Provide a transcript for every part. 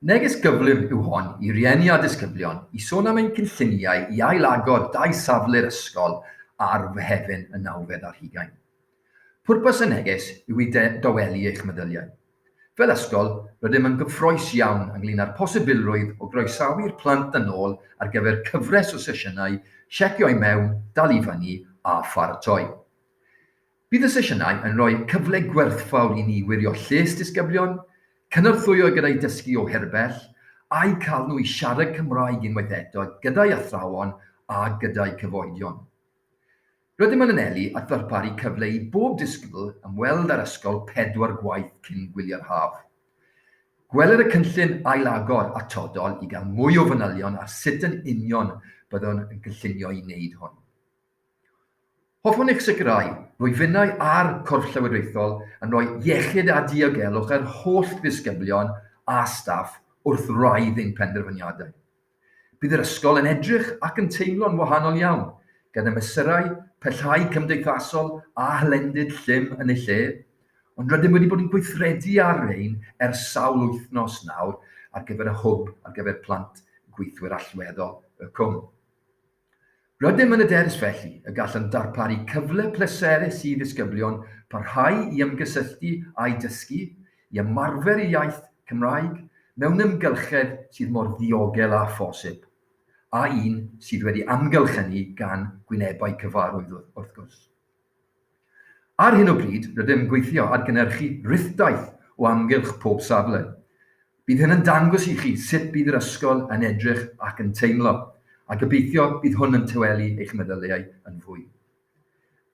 Neges gyflym yw hon i rieni a disgyblion i sôn am ein cynlluniau i ail-agor dau safle'r ysgol ar Fehefin y nawfed ar hugain. Pwrpas y neges yw i dawelu eich meddyliau. Fel ysgol, rydym yn gyffrous iawn ynglŷn â'r posibilrwydd o groesawu'r plant yn ôl ar gyfer cyfres o sesiynau Checio i Mewn, Dal i Fyny a Pharatoi. Bydd y sesiynau yn rhoi cyfle gwerthfawr i ni wirio lles disgyblion, cynorthwyo gyda'u dysgu o hir bell, a'u cael nhw i siarad Cymraeg unwaith eto gyda'u athrawon a gyda'u cyfoedion. Rydym yn anelu at ddarparu cyfle i bob disgybl ymweld â'r ysgol pedwar gwaith cyn gwyliau'r haf. Gweler y cynllun ailagor atodol i gael mwy o fanylion ar sut yn union byddwn yn cynllunio i wneud hwn. Hoffwn eich sicrhau fwy finnau a'r Corff Llywodraethol yn rhoi iechyd a diogelwch i'r holl ddisgyblion a staff wrth wraidd ein penderfyniadau. Bydd yr ysgol yn edrych ac yn teimlo'n wahanol iawn, gyda mesurau pellhau cymdeithasol a hylendid llym yn eu lle, ond rydym wedi bod yn gweithredu ar rein ers sawl wythnos nawr ar gyfer y Hwb ar gyfer Plant Gweithwyr Allweddol y Cwm. Rydym yn yderus felly y gallem ddarparu cyfle pleserus i ddisgyblion parhau i ymgysylltu â'u dysgu, i ymarfer eu iaith Cymraeg mewn ymgylchedd sydd mor ddiogel â phosib, a un sydd wedi amgylchynu gan gwynebau cyfarwydd wrth gwrs. Ar hyn o bryd, rydym yn gweithio ar gynhyrchu rithdaith o amgylch pob safle. Bydd hyn yn dangos i chi sut bydd yr ysgol yn edrych ac yn teimlo, a gobeithio bydd hwn yn tawelu eich meddyliau yn fwy.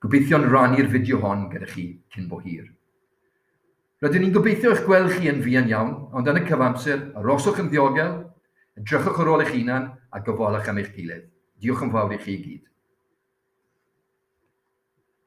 Gobeithion rannu'r fideo hon gyda chi cyn bo hir. Rydyn ni'n gobeithio eich gweld chi yn fuan iawn, ond yn y cyfamser, aroswch yn ddiogel, edrychwch ar ôl eich hunan a gofalwch am eich gilydd. Diolch yn fawr i chi i gyd.